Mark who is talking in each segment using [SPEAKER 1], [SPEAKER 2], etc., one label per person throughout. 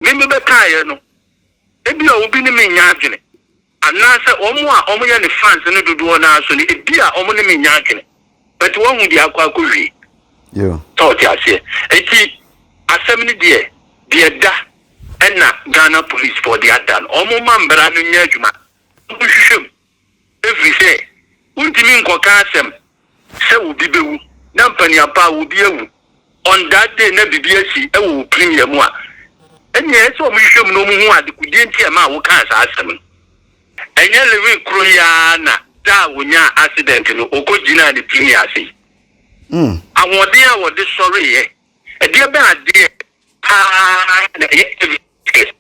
[SPEAKER 1] me mebɛkaeɛ no, ebia obi ne me nnya adwene, anaasɛ wɔn a wɔyɛ ne fans no dodoɔ no ara nso no, ebia wɔn ne me nnya adwene, but wahu deɛ akɔ akɔwie. Sɛ
[SPEAKER 2] wote aseɛ?
[SPEAKER 1] Enti asɛm no deɛ, deɛ ɛda ɛna Ghana policefoɔ de ada no, wɔmma mmara no nyɛ adwuma, wɔnhwehwɛ mu. ɛfiri sɛ wontumi nkɔka asɛm sɛ obi bɛwu na mpaniapa a obi awu on that day na biribi asi wɔ opirim yɛ mu a, ɛnneɛ ɛyɛ sɛ wɔhwehwɛ mu na wɔhu adekodeɛ nti a ɛma a wokaa saa asɛm no. Ɛnyɛ Lewin koro yi ara na da a ɔnyaa accident no ɔkɔgyinaa ne tumi ase yi. Mm. Ahoɔden a wɔde sɔreeɛ, ɛdeɛ bɛn adeɛ paa na ɛyɛ evidence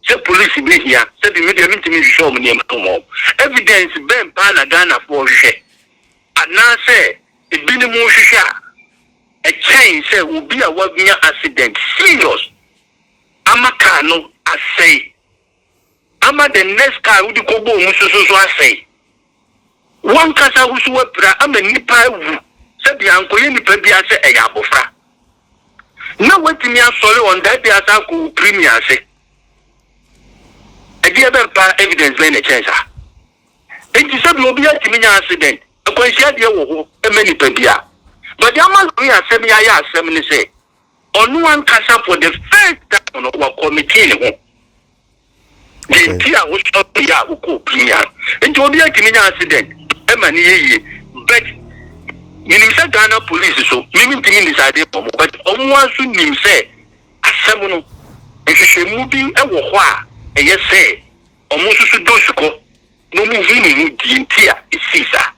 [SPEAKER 1] Sɛ polisi behia sɛ bi me deɛ mentumi nhwehwɛ wɔn nneɛma no mmɔ wɔn. Evidence bɛn paa na Ghanafoɔ hwehwɛ anaasɛ ebinom hwehwɛ a ɛkyɛn sɛ obi a wanya accident serious ama car no asɛe ama the next car wode kɔbɔ wɔn so nso asɛe? W'ankasa wo so w'apira ama nnipa awu sɛ bia nkɔyɛ nnipa bia sɛ ɛyɛ abɔfra na w'atumi asɔre on that day asan akɔ wo piri mia ase ɛdeɛ bɛn paa evidence bɛn na ɛkyɛn saa enti sɛ bia obi atumi nya accident akwanhyia deɛ wɔ hɔ ɛmɛ nnipa bia but deɛ ama lori asɛm yɛ ayɛ asɛm ne sɛ ɔno ankasa for the first time no wakɔ meeting ho. Deɛ nti a wosɔre yɛ a wokɔ opini a nti obiara tumi nya accident ɛma ne yɛ yie but menim sɛ Ghana police so me mentumi ndecide ma ɔmo but ɔmo ara so nim sɛ asɛm no nhwehwɛmu bi wɔ hɔ a ɛyɛ sɛ ɔmo nso so dɔ sukɔ na ɔmo hu ne ho deɛ nti a ɛsii saa.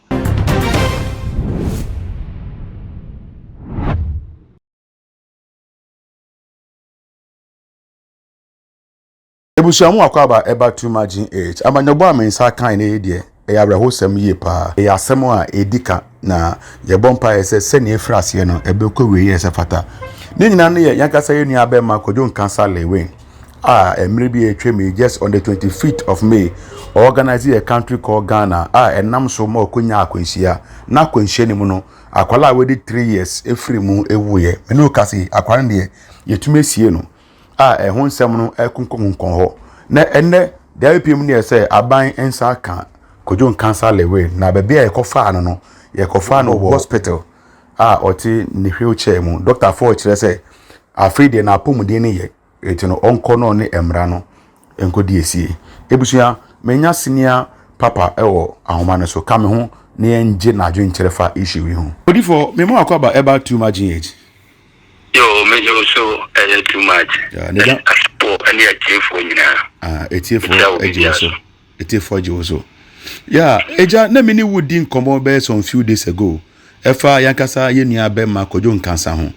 [SPEAKER 2] Ebusua mu akwaaba a ɛba tum agye eet. Amannyɔbɔ a me nsa kae nnɛ yi deɛ, ɛyɛ awerɛhosɛm yie pa ara. Ɛyɛ asɛm a ɛdi ka, na yɛbɔ mpaeɛ sɛ sɛnea ɛfiri aseɛ no, ɛbɛkɔ awieeɛ a ɛsɛ fata. Ne nyinaa no yɛ yɛn ankasa yɛn nua bɛrima Kojo Nkansah Lewin a mmerɛ bi a atwam yi, just on the 25th of May, ɔorganise a country called Ghana a ɛnam so ma ɔkɔnyaa akwanhyia. N'akwanhyia no mu no, akwadaa a wadi three years firii mu wuiɛ. Me ne wo kasa yi, akwadaa no deɛ, yɛtumi asie no. a ɛho nsɛm no akunkunkɔn hɔ. Na ɛnnɛ, deɛ ɛpie mu neɛ sɛ aban nsa ka Kojo Nkansah Lewin, na baabi a yɛkɔfaa no no, yɛkɔfaa no wɔ hospital a ɔte ne wheel chair mu. Dɔktafoɔ kyerɛ sɛ afei deɛ n'apɔmuden no yɛ, enti no ɔnkɔ na ɔne mmara no nkɔdi asie. Abusua, manya senior papa wɔ ahoma no so, ka me ho na yɛngye n'adwenkyerɛ fa issue yi ho. Odifoɔ, me mu Akwaba Ebah Tuma Gh.
[SPEAKER 1] Yoo me yoo so
[SPEAKER 2] ɛyɛ
[SPEAKER 1] too much. Yeah, ne da- Asafo ɛne atiefoɔ nyinaa. Ah,
[SPEAKER 2] etiefoɔ Ɛkyɛ wo agye wo biribiara so so. etiefoɔ agye wo so ya agya na me ne wo di nkɔmmɔ bɛyɛ some few days ago ɛfa yankasa yɛ nua bɛma kɔdwo nkansa ho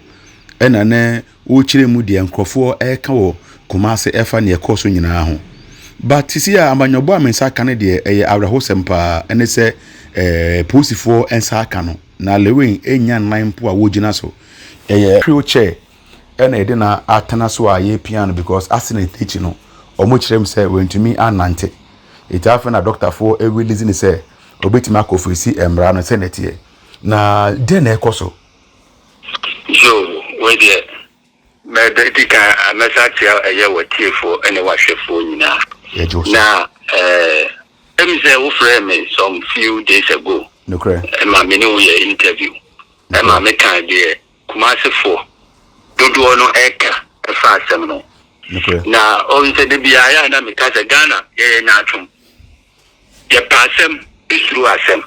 [SPEAKER 2] ɛna ne wokyerɛ mu deɛ nkurɔfoɔ ɛka wɔ kɔma ase ɛfa neɛ ɛkɔɔ so nyinaa ho but sisi a amanyɔbɔ a me nsa aka no deɛ ɛyɛ awerɛhosɛm paa ɛne sɛ ɛɛ polisifoɔ nsa aka no na lewin ɛnya nan mpo a wɔgyina so Yɛyɛ wheel chair ɛna yɛde na atena so a yɛpia no because accident no akyi no ɔmo kyerɛ mu sɛ wantumi annante nti afei na doctor foɔ ɛrelease no sɛ ɔbɛtumi akɔ face mmara no sɛnea ɛteɛ na deɛn na ɛkɔ so.
[SPEAKER 1] Yoo wei deɛ mɛdi kan mɛsa akyerɛ ɛyɛ watiefoɔ ɛne wahwɛfoɔ nyinaa Yɛgye wo so. na ɛɛ ɛmi sɛ wofrɛɛ me some few days ago Nokorɛ. ɛma me
[SPEAKER 2] ne wo yɛ
[SPEAKER 1] interview. ma mekaa deɛ Kumasefoɔ dodoɔ no reka fa asɛm no ho. Na ɔhu sɛ da biara yɛ a na meka sɛ Ghana yɛyɛ nyaatwom, yɛpɛ asɛm, suro asɛm.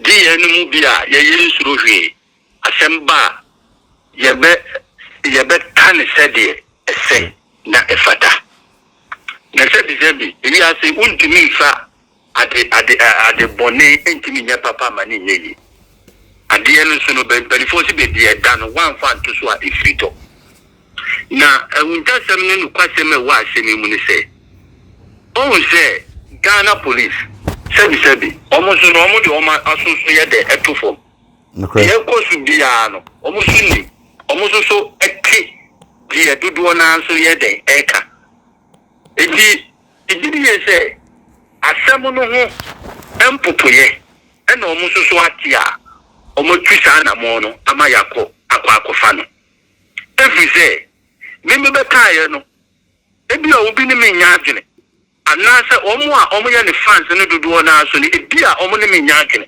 [SPEAKER 1] Gye yɛn no mu bi a yɛyɛ nsuro hwee, asɛm ba a yɛbɛ yɛbɛka no sɛdeɛ ɛsɛ na ɛfata. Na sɛbisɛbi wiase wontumi mfa Ade ade ɛ ade bɔne ntumi nyɛ papa ma no nyɛ yie. Adeɛ no nso no bɛ mpaninfoɔ se baabi ɛda no woamfa anto so a ɛfiri tɔ. Na ahuntasɛm ne nokwasɛm a ɛwɔ asɛm yi mu ne sɛ woahu sɛ Ghana police sɛbi sɛbi wɔn nso no wɔn de wɔn aso so yɛ dɛ ɛto fam. Deɛ ɛkɔ so biara no wɔn nso nim, wɔn nso so te deɛ dodoɔ no ara nso yɛ dɛn ɛreka. Enti. Megye di yiye sɛ asɛm no ho mpopoeɛ na wɔn nso so ate a wɔatu saa anammɔn no ama yɛakɔ akɔ akɔfa no. Ɛfiri sɛ, me mebɛkaeɛ no, ebia obi ne me nnya adwene, anaasɛ wɔn a wɔyɛ ne fans no dodoɔ no ara nso no, ebia wɔne me nnya adwene.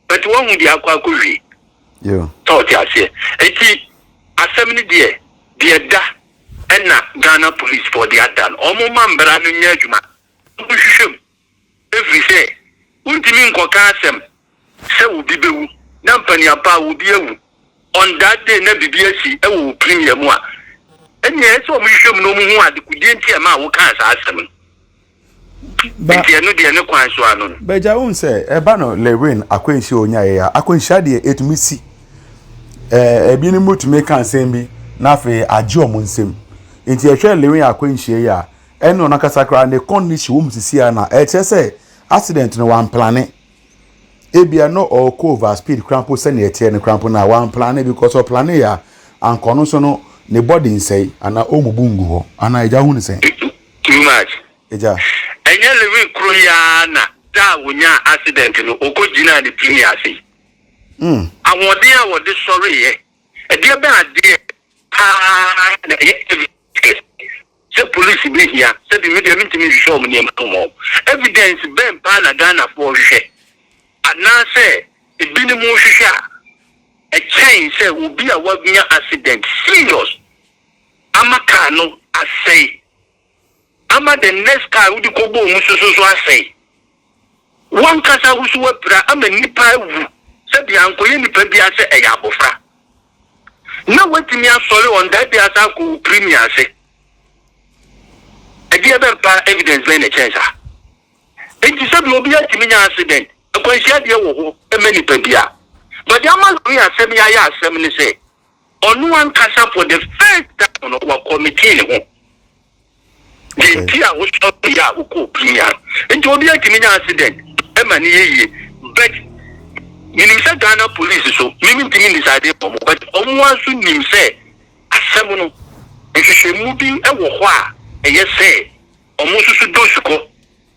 [SPEAKER 1] But wahu deɛ akɔ akɔwie. Yeah. Sɛ
[SPEAKER 2] ɔte aseɛ.
[SPEAKER 1] Enti asɛm no deɛ, deɛ ɛda ɛna Ghana policefoɔ de ada no, wɔn mma mbra no nyɛ adwuma. Wɔn nhwehwɛ mu. Ɛfiri sɛ, wontumi nkɔka asɛm sɛ obi bɛwu na mpaniapa a obi awu on that day na biribi asi wɔ wo premier mu a, ɛnneɛ ɛsɛ wɔn hwehwɛ mu na wɔn hu adekodeɛ nti a ɛmaa wokaa saa asɛm no. Ba, Nti ɛno deɛ ne kwan so ano no. Bagya wohu sɛ ɛba
[SPEAKER 2] no Lewin akwanhyia onyaeɛ a akwanhyia deɛ ɛtumi si ɛɛ ebi no mu tumi ka nsɛm bi na afei agye wɔn nsam nti ɛhwɛ Lewin akwanhyia yi a ɛne ɔno ankasa koraa ne condition wɔn sisi a na ɛkyerɛ sɛ accident no wamplane ebia no ɔkɔ over speed koraa mpo sɛnea ɛteɛ no koraa mpo na wamplane because ɔplane yɛ a ankɔ no so no ne body nsɛe anaa ɔmubu ngu hɔ anaa agya hu ne sɛn. Too much.
[SPEAKER 1] Agya.
[SPEAKER 2] Ɛnyɛ Lewin
[SPEAKER 1] koro yi ara na da a ɔnyaa accident no ɔkɔgyinaa ne tumi ase yi. Ahoɔden a ɔde sɔreeɛ, ɛdeɛ bɛn adeɛ pa ara na ɛyɛ evidence sɛ polisi bɛhia, sɛdeɛ me deɛ mentumi nhwehwɛ wɔn nneɛma no mma wɔn. Evidence bɛn pa ara na Ghanafoɔ hwehwɛ anaasɛ ebinom hwehwɛ a ɛkyɛn sɛ obi a wanya accident serious? Ama car no asɛe. Ama the next car a wode kɔbɔɔ mu so nso asɛe. W'ankasa wo nso woapira ama nnipa awu sɛdeɛ ankɔyɛ nipa biara sɛ ɛyɛ abɔfra. Na woatumi asɔre on that day asan akɔ wo premier ase. Ɛdeɛ bɛn paa evidence bɛn na ɛkyɛn saa? Enti sɛdeɛ obiara tumi nya accident, akwanhyia deɛ wɔ hɔ ma nipa biara. But deɛ ama lɔre asɛm yi ayɛ asɛm ne sɛ, Ɔno ankasa for the first time no wa committee ne ho deɛ nti a wo sɔre yɛ a wo kɔɔ premier no nti obi atumi nya accident ɛma ne yɛ yie but menim sɛ Ghana police so mimi ntumi decide wɔn but wɔn ara nso nim sɛ asɛm no nhwehwɛmu bi ɛwɔ hɔ a ɛyɛ sɛ wɔn nso so dɔ sukɔ.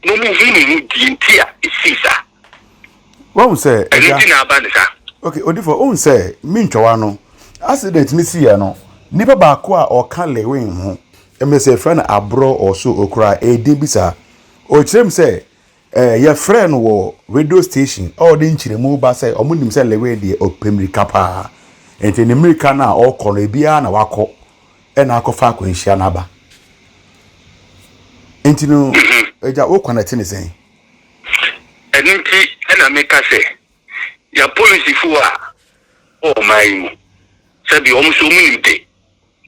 [SPEAKER 1] Na
[SPEAKER 2] ɔno huu ne ho deɛ nti a ɛsii saa. Wahu sɛ ɛgya. Ɛno nti na
[SPEAKER 1] aba ne saa. Okay, Odifo, ohun
[SPEAKER 2] sɛ me ntwawa no accident ne siiɛ no, nipa baako a ɔka Lewin ho, ɛmɛ sɛ yɛfrɛ no aborɔ or so okura edin bi saa. Ɔkyerɛ mu sɛ eh, yɛfrɛ no wɔ radio station a ɔde nkyerɛmu ba sɛ ɔmo nim sɛ Lewin deɛ ɔpɛ mmirika paa. Nti ne mmirika no a ɔkɔ no ebiara na wakɔ. Ɛna akɔfa akwanhyia no aba. Nti no, agya mhm. wo kwan ɛte ne sɛn?
[SPEAKER 1] Ɛno nti ɛna meka sɛ yɛ polisifoɔ a wɔ ɔman yi mu sɛbi wɔn nso wɔn nim de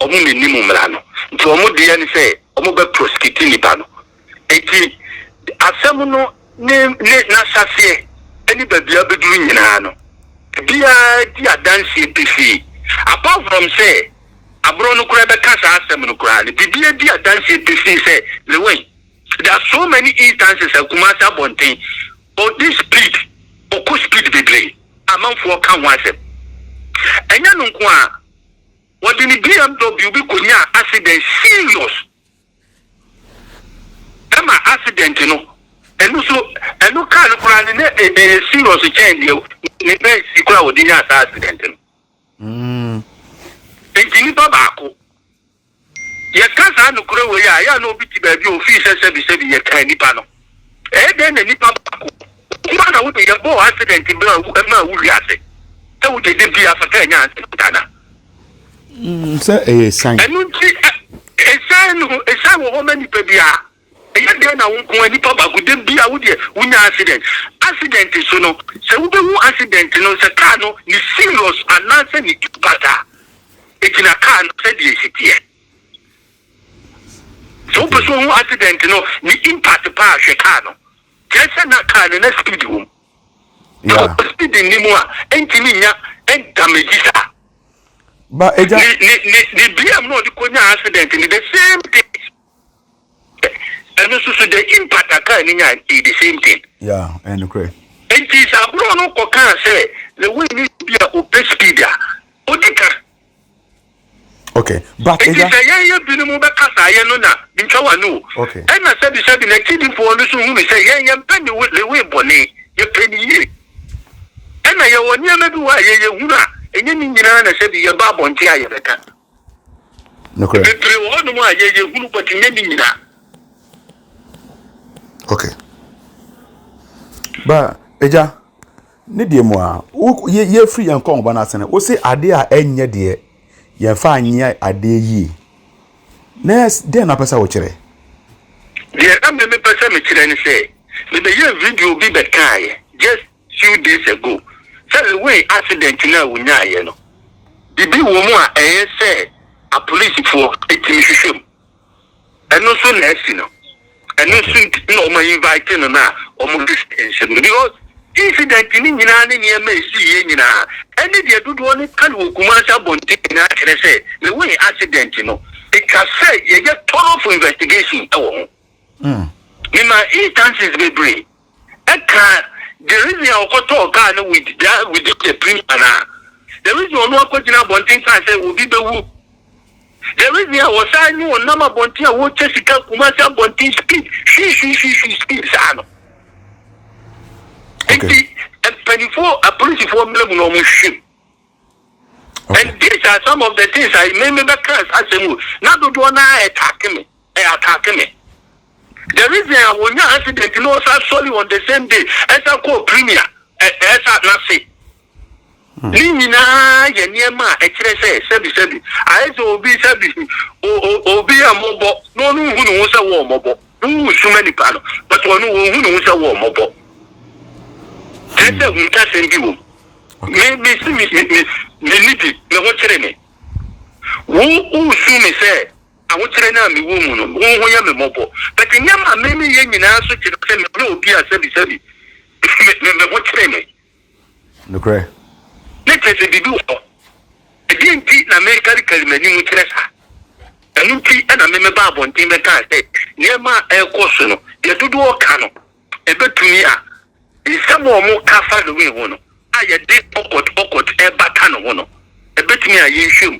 [SPEAKER 1] wɔn na anim mmara no nti wɔn deɛ ne sɛ wɔn bɛ prosikiti nipa no Enti asɛm no ne ne n'ahyɛaseɛ ne baabi a abɛduru nyinaa no, ebiara di adanseɛ pefee. Apart from sɛ aborɔ no koraa bɛka saa asɛm no koraa no, biribiara di adanseɛ pefee sɛ Lewin, there are so many instances a Kumasi abɔnten, ɔdi speed, ɔkɔ speed bebree, amanfoɔ ka ho asɛm. Ɛnyɛ no nko ara, wɔde ne BMW bi kɔnyaa accident serious. Ɛma accident no ɛno so ɛno car no koraa no na ɛyɛ serious kyɛn deɛ ne Benz yi koraa wɔde nyaa saa accident no. Mm. Nti nipa baako yɛka saa nokorɛ wei a yɛ a na obi te baabi a ofii sɛ sɛbi sɛbi yɛkan nipa no. Ɛyɛ dɛn na nipa baako nko ara na wode yɛ bɔɔ accident bere a ɛmaa wuhwee ase sɛ wode de bia fata anya accident
[SPEAKER 2] anaa? Mm, sɛ ɛyɛ san. Ɛno nti,
[SPEAKER 1] ɛsan no, ɛsan wɔ hɔ ma nipa biara. Ɛyɛ dɛn na wo nko ara nipa baako de bia wodeɛ wonya accident? Accident so no, sɛ wobɛhu accident no sɛ kaa no ne serious anaasɛ ne impact a ɛgyina kaa no sɛdeɛ ɛsi teɛ. Sɛ wopɛ sɛ ohu accident no ne impact paa a, hwɛ car no. Kyerɛ sɛ na car no na speed wɔ mu. Sɛ Yeah. speed nni mu a, ɛntumi nnya damage saa. Ba
[SPEAKER 2] agya. Ne ne ne ne BM
[SPEAKER 1] no a ɔde kɔnyaa accident no the same thing. Ɛno nso so the impact a car no nyaa no ɛyɛ the same thing. Yeah, ɛyɛ
[SPEAKER 2] nokorɛ. Nti sɛ aborɔ
[SPEAKER 1] no kɔkaa sɛ Lewini bi a ɔpɛ speed a, ɔdi ka.
[SPEAKER 2] Okay, but nti sɛ yɛyɛ binom bɛka
[SPEAKER 1] saa yɛ no na ntwa w'ano o. Okay. Ɛna sɛbisɛbi n'akyidifoɔ no nso hunu sɛ yɛn yɛmpɛ ne Lewi bɔne, yɛpɛ ne yie. Ɛna yɛwɔ nneɛma bi wɔ a yɛyɛ hunu a ɛnyɛ ne nyinaa na sɛbi yɛba abɔnten a yɛbɛka. Nokorɛ. Bebree wɔ hɔnom a yɛyɛ hunu but nyɛ ne nyinaa. Okay.
[SPEAKER 2] Ba, agya, Ne deɛ mu a, wo yɛ yɛfiri yɛn kɔnba no ase no, wo se adeɛ a ɛnyɛ deɛ yɛmfa anyɛ adeɛ yie. Na deɛ na apɛ sɛ wokyerɛ? Deɛ
[SPEAKER 1] na me mepɛ sɛ mekyerɛ ne sɛ, mebɛyɛɛ video bi bɛkaaeɛ just few days ago sɛ Lewin accident no a wonyaaeɛ no, biribi wɔ mu a ɛyɛ sɛ apolisifoɔ tumi hwehwɛ mu. Ɛno nso na asi no. Ɛno nso nti na wɔn invite no na wɔn sisi nhyɛm no because incident no nyinaa ne nneɛma a ɛsiiɛ nyinaa ɛne deɛ dodoɔ no ka no wɔ Kumasi abɔnten nyinaa kyerɛ sɛ the way accident no ɛtwa sɛ yɛyɛ thorough investigation wɔ ho. Memaa instances bebree. Ɛka the reason a ɔkɔtɔɔ car no with that within the premium anaa? The reason ɔno akɔgyina abɔnten kaa sɛ obi bɛwu? The reason a ɔsan ne ɔnam abɔnten a wɔkyɛ sika Kumasi abɔnten speed hwihwihwihwi speed saa no? Okay. Nti mpanimfoɔ apolisifoɔ mmerɛ mu na wɔn hwehwɛ mu. Okay. And these are some of the things I made me back as asɛm o. Na dodoɔ no ara ɛtaake me. ɛ attack me the reason a wɔnya accident na ɔsan sɔre on the same day ɛsan kɔɔ premier ɛ ɛsa n'ase ne nyinaa yɛ nneɛma a ɛkyerɛ sɛ sɛbi sɛbi ayɛ sɛ obi sɛbi o o obi yɛ mmɔbɔ na ɔno nhu ne ho sɛ wɔɔ mmɔbɔ na wowu suma nipa no but ɔno wɔnhu ne ho sɛ wɔɔ mmɔbɔ kyerɛ sɛ huntasɛm bi wɔ mu me me si me me me nidi me ho kyerɛ me wo wosu me sɛ Ahokyerɛ no a mewɔ mu no, wo ho yɛ me mmɔbɔ. But nneɛma a me meyɛ nyinaa nso kyerɛ sɛ menyɛ obi a sɛbisɛbi me me ho kyere me. Nokorɛ.
[SPEAKER 2] Na kyerɛ sɛ
[SPEAKER 1] biribi wɔ hɔ. Ɛdeɛn nti na mekarikari m'anim kyerɛ saa? Ɛno nti na me mebaa abɔnten bɛkaa sɛ nneɛma a ɛrekɔ so no, deɛ dodoɔ ka no, ɛbɛtumi a nsɛm a wɔka fa Lewin ho no a yɛde ɔkɔt ɔkɔt rebata ne ho no, ɛbɛtumi a yɛnhwɛ mu.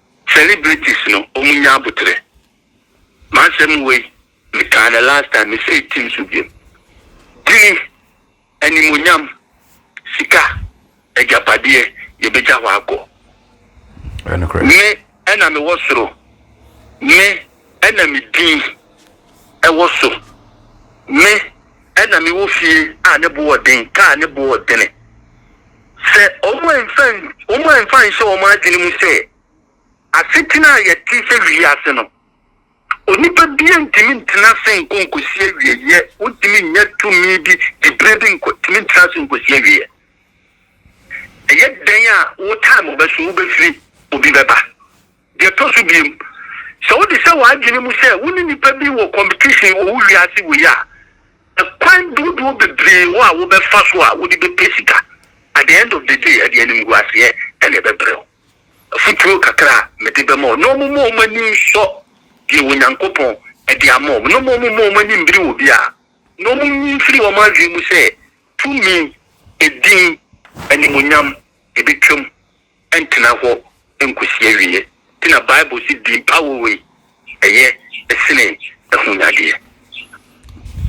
[SPEAKER 1] Celebrities no ɔmo nya aboterɛ. M'asɛm wei mekaa no last time me say tim so biom. Tini, animonyam, sika, agyapadeɛ yɛbɛgya hɔ akɔ. Me ɛna me wɔ soro, me ɛna me din ɛwɔ so, me ɛna me wɔ fie a ne boɔ den, kaa ne boɔ dene. Sɛ wɔamfa nhyɛ wɔn adwene mu sɛ asetena a yɛte sɛ wiase no, onipa biara ntumi ntena ase nkɔ nkosi awieeɛ, wontumi nnya tumi bi de berɛ bi nkɔ tumi ntena ase nkosi awieeɛ. Ɛyɛ dɛn a wo time bɛso wobɛfiri obi bɛba. Deɛ ɛtɔ so biem, sɛ wode hyɛ w'adwene mu sɛ wo ne nnipa bi wɔ kɔmpitisyen wɔ wo wiase wei a, ɛkwan dodoɔ bebree wɔ a wobɛfa so a wode bɛpɛ sika. At the end of the day, ɛde animguaseɛ na ɛbɛbrɛ wo. Afotuo kakra a mede bɛma wo ne wɔn mma wɔn ani nsɔ deɛ Onyankopɔn de ama wɔn, na wɔn mma wɔn ani mmiri obiara, na wɔnyi mfiri wɔn adwene mu sɛ tumi, edin, animuonyam, ɛbɛtwam. ntena hɔ nkosi awiei. Nti na Bible se din pa woi ɛyɛ
[SPEAKER 2] sene ahunyadeɛ.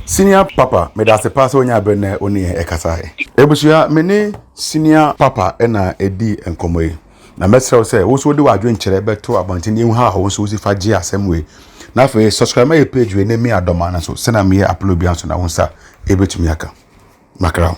[SPEAKER 2] Senior papa medase paa sɛ wonyaa berɛ na wone yɛn ɛkasaeɛ. Abusua me ne senior papa na ɛdii nkɔmmɔ yi. Na mɛsrɛ wo sɛ wo nso wode w'adwenkyerɛ bɛto abɔnten na yɛhu how a wo nso wosi fa gye asɛm wei. Na afei subscribe ma yɛn page wei na mi adɔmaa no nso sɛnea meyɛ upload biara nso na wo nsa ɛbɛtumi aka. Makra wo.